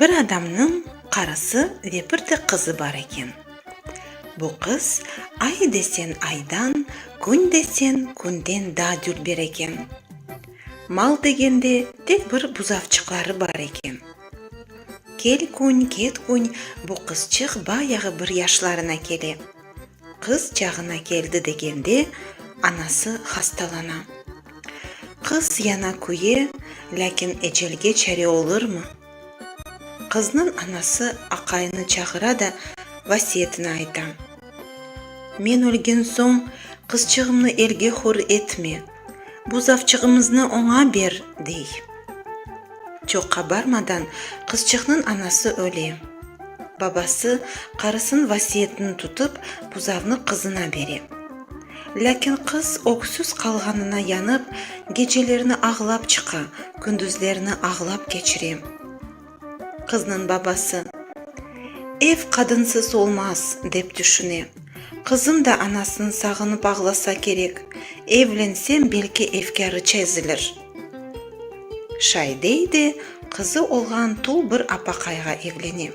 Bir adamnıñ qarısı ve bir de qızı bar eken. Bu qız ay desen aydan, kün desen künden daa dülber eken. Mal degende tek bir buzavçıqları bar eken. Kel kün, ket kün bu qızçıq bayağı bir yaşlarına kele. Qız çağına keldi degende, anası hastalana. Qız yana küye, lâkin ecelge çare olurmı? Qıznıñ anası aqayını çağıra da vasiyetini ayta, Men ölgen soñ, qızçığımnı elge hür etme! Bu zavçığımıznı oña ber, dey. Çoq qabarmadan qızçıqnıñ anası öle. Babası qarısınıñ vasiyetini tutıp, buzavnı qızına bere. Lâkin qız öksüz qalğanına yanıp, gecelerni ağlap çıqa, kündüzlerni ağlap keçire. Qıznıñ babası, Ev qadınsız olmaz, dep tüşüne. Qızım da anasın sağınıp ağlasa kerek, evlensem, belki efkârı çezilir. Şaidey de qızı olğan tul bir apaqayğa evlene.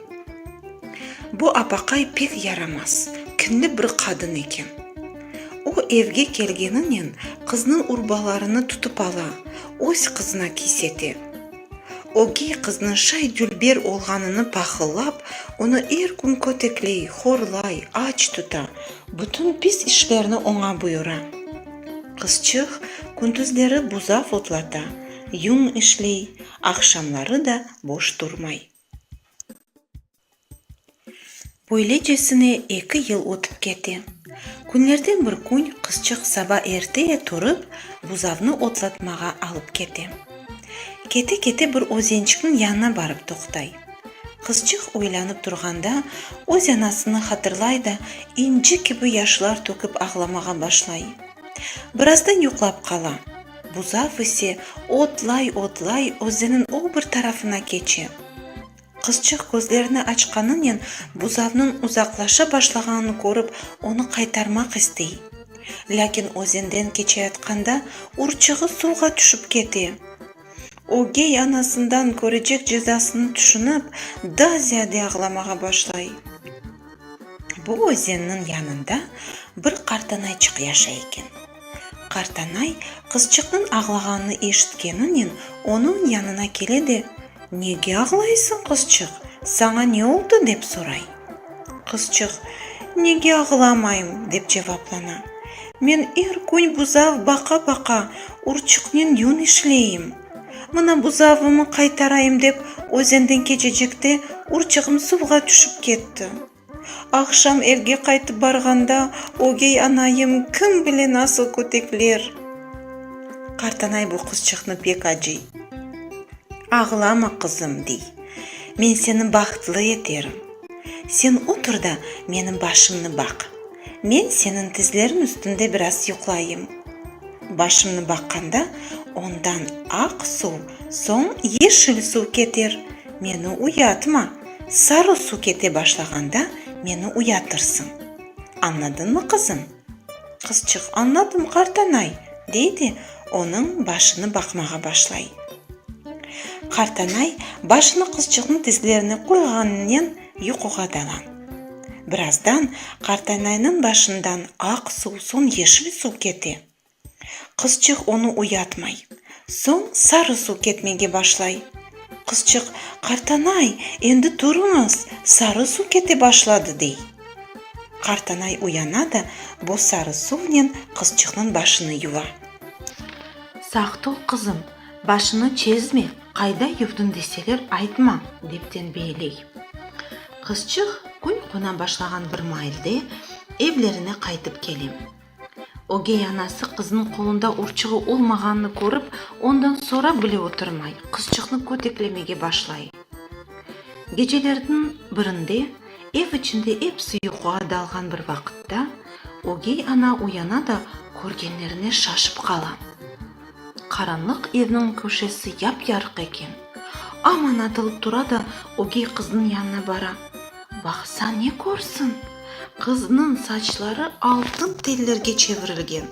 Bu apaqay pek yaramaz, kinli bir qadın eken. O, evge kelgeninen, qıznıñ urbalarını tutıp ala, öz qızına kis ete. Ögey qıznıñ şay-dülber olğanını pahıllap, onı er kün kötekley, horlay, aç tuta, bütün pis işlerni oña buyura. Qızçıq kündüzleri buzav otlata, yuñ işley, aqşamları da boş turmay. Böylecesine eki yıl ötip kete. Künlerden bir kün qızçıq saba erte turıp, buzavnı otlatmağa alıp kete. Kete-kete bir özençikniñ yanına barıp toqtay. Qızçıq oylanıp turğanda, öz anasını hatırlay da, inci kibi yaşlar tökip ağlamağa başlay. Birazdan yuqlap qala. Buzav ise otlay-otlay özeniñ o bir tarafına keçe. Qızçıq közlerini açqanınen buzavnıñ uzaqlaşa başlağanını körip, onı qaytarmaq istey. Lâkin özenden keçeyatqanda urçuğı suvğa tüşip kete. Ögey anasından körecek cezasını tüşünip, daa ziyade ağlamağa başlay. Bu özenniñ yanında bir qartanayçıq yaşay eken. Qartanay, qızçıqnıñ ağlağanını eşitkeninen, onıñ yanına kele de, Nege ağlaysıñ, qızçıq? Saña ne oldı? dep soray. Qızçıq, Nege ağlamayım? dep cevaplana. Men er kün buzav baqa-baqa, urçıqnen yün işleyim. Mına buzavımı qaytarayım dep, özenden keçecekte urçığım suvğa tüşip ketti. Aqşam evge qaytıp barğanda, ögey anayım kim bile nasıl kötekler! Qartanay bu qızçıqnı pek acıy. Ağlama, qızım, dey, men seni bahtlı eterim. Sen otur da, menim başımnı baq. Men seniñ tizleriñ üstünde biraz yuqlayım. Başımnı baqqanda, ondan aq suv, soñ yeşil suv keter. Meni uyatma. Sarı su kete başlağanda meni uyatırsıñ. Añladıñmı, qızım? Qızçıq, Añladım, qartanay, dey de, onıñ başını baqmağa başlay. Qartanay başını qızçıqnıñ tizlerine qoyğanınen yuquğa dala. Birazdan qartanaynıñ başından aq suv, soñ yeşil suv kete. Qızçıq onı uyatmay. Soñ sarı suv ketmege başlay. Qızçıq, Qartanay, endi turıñız, sarı suv kete başladı, dey. Qartanay uyana da bu sarı suvnen qızçıqnıñ başını yuva. Saq tur, qızım, başını çezme, qayda yuvdın deseler, aytma, dep tenbeeley. Qızçıq kün qona başlağan bir mailde evlerine qaytıp kele. Ögey anası qızınıñ qolunda urçuğı olmağanını körip, ondan sorap bile oturmay, qızçıqnı köteklemege başlay. Gecelerniñ birinde, ev içinde episi yuquğa dalğan bir vaqıtta, ögey ana uyana da körgenlerine şaşıp qala. Qaranlıq evniñ köşesi yap-yarıq eken. Aman atılıp tura da ögey qıznıñ yanına bara. Baqsa ne körsin, qıznıñ saçları altın tellerge çevirilgen.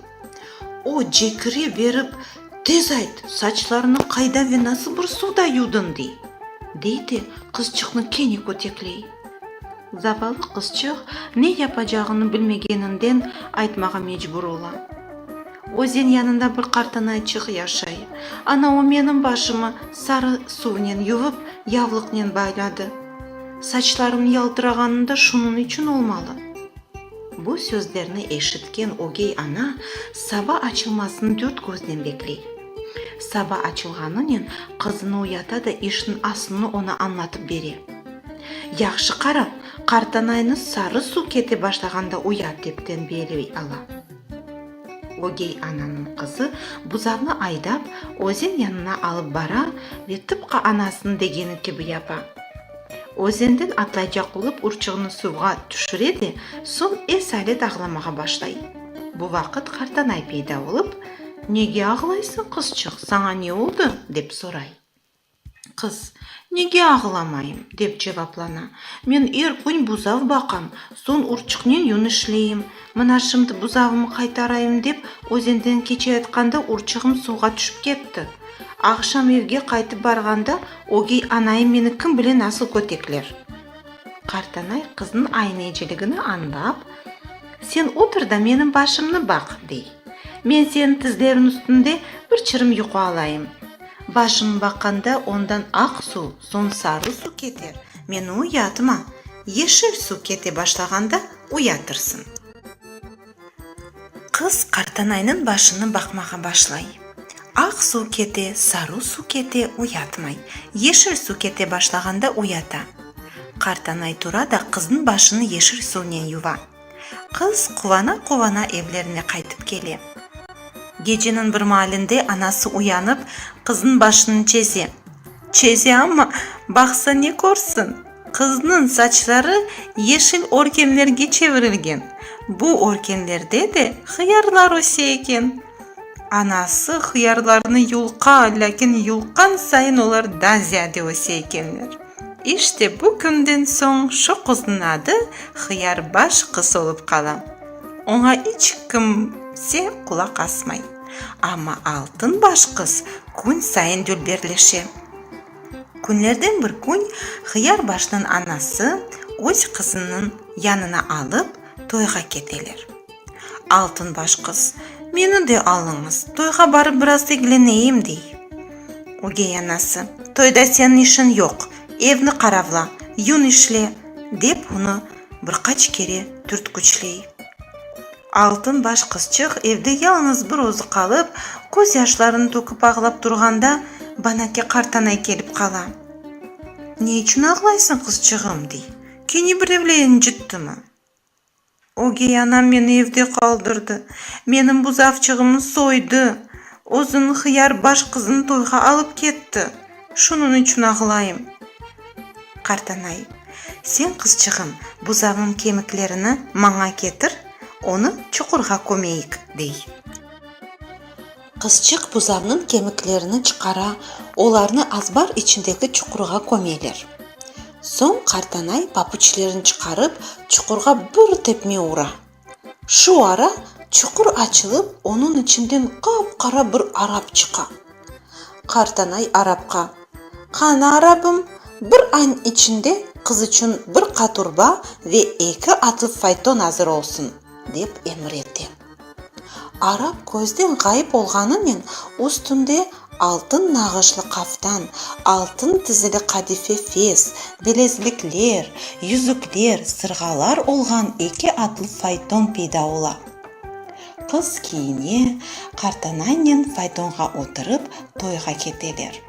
O, cekire berip, Tez ayt, saçlarını qayda ve nasıl bir suvda yuvdıñ? dey. Dey de, qızçıqnı kene kötekley. Zavallı qızçıq ne yapacağını bilmegeninden aytmağa mecbur ola. Özen yanında bir qartanayçıq yaşay. Ana o menim başımı sarı suvnen yuvıp, yavlıqnen bayladı. Saçlarım yaltırağanı da şunıñ içün olmalı. Bu sözlerni eşitken ögey ana saba açılmasını dört köznen bekley. Saba açılğanınen qızını uyata da işniñ asılını oña añlatıp bere. Yahşı qara, qartanaynı sarı suv kete başlağanda uyat, dep tenbiyeley ala. Ögey ananıñ qızı buzavnı aydap, özen yanına alıp bara ve tıpqı anasınıñ degeni kibi yapa. Özenden atlaycaq olıp urçuğını suvğa tüşüre de, soñ esalet ağlamağa başlay. Bu vaqıt qartanay peyda olıp, Nege ağlaysıñ, qızçıq, saña ne oldı? dep soray. Qız, Nege ağlamayım? dep cevaplana. Men er kün buzav baqam, soñ urçıqnen yün işleyim. Mına şimdi buzavımı qaytarayım dep, özenden keçeyatqanda urçığım suvğa tüşip ketti. Aqşam evge qaytıp barğanda, ögey anayım meni kim bile nasıl kötekler. Qartanay qıznıñ ayneciligini añlap, Sen otur da menim başımnı baq, dey. Men seniñ tizleriñ üstünde bir çirim yuqu alayım. Başım baqqanda ondan aq su, soñ sarı su kete, meni uyatma, yeşil su kete başlağanda uyatırsın. Qız qartanaynıñ başını baqmağa başlay. Aq su kete, sarı su kete, uyatmay, yeşil su kete başlağanda uyata. Qartanay tura da qıznıñ başını yeşil suvnen yuva. Qız quvana-quvana evlerine qaytıp kele. Geceniñ bir maalinde anası uyanıp, qıznıñ başını çeze. Çeze amma, baqsa ne körsin, qıznıñ saçları yeşil örkenlerge çevirilgen, bu örkenlerde de hıyarlar öse eken. Anası hıyarlarnı yulqa, lâkin yulqqan sayın olar daa ziyade öse ekenler. İşte bu künden soñ şu qıznıñ adı Hıyarbaş qız olıp qala. Oña iç kimse qulaq asmay. Amma Altınbaş qız kün sayın dülberleşe. Künlerden bir kün Hıyarbaşnıñ anası öz qızınıñ yanına alıp toyğa keteler. Altın baş qız, Meni de alıñız, toyğa barıp biraz degleneyim, dey. Ögey anası, Toyda seniñ işiñ yoq, evni qaravla, yün işle, dep onı bir qaç kere türtküçley. Altın baş qızçıq evde yalıñız bir özü qalıp, köz yaşlarını töküp ağlap turğanda, Banake qartanay kelip qala. Ne içün ağlaysıñ, qızçığım? dey. Kene birevle incittimi? Ögey anam meni evde qaldırdı. Menim buzavçığımı soydı. Özüniñ hıyarbaş qızını toyğa alıp ketti. Şunıñ içün ağlayım. Qartanay. Sen, qızçığım, buzavnıñ kemiklerini maña ketir, onı çuqurğa kömeyik, dey. Qızçıq buzavnıñ kemiklerini çıqara, olarnı azbar içindeki çuqurğa kömeler. Soñ qartanay papuçlerini çıqarıp, çuqurğa bir tepme ura. Şu ara çuqur açılıp, onıñ içinden qap-qara bir arap çıqa. Qartanay arapqa, Qana, arapım, bir añ içinde qız içün bir qaturba ve eki atlı fayton azır olsun, dep emir ete. Arap közden ğayıp olğanınen üstünde altın nağışlı qaftan, altın tizili qadife fes, bilezlikler, yüzükler, sırğalar olğan eki atlı fayton peyda ola. Qız kiyine, qartanannen faytonğa oturıp toyğa keteler.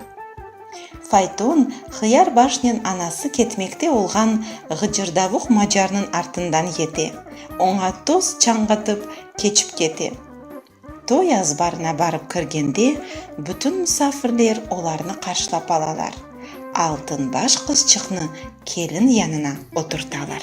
Fayton, Hıyar başnen anası ketmekte olğan ğıcırdavuq macarnıñ artından yete, oña toz çañğatıp, keçip kete. Toy azbarına barıp kirgende, bütün musafirler olarnı qarşılap alalar, Altınbaş qızçıqnı kelin yanına oturtalar.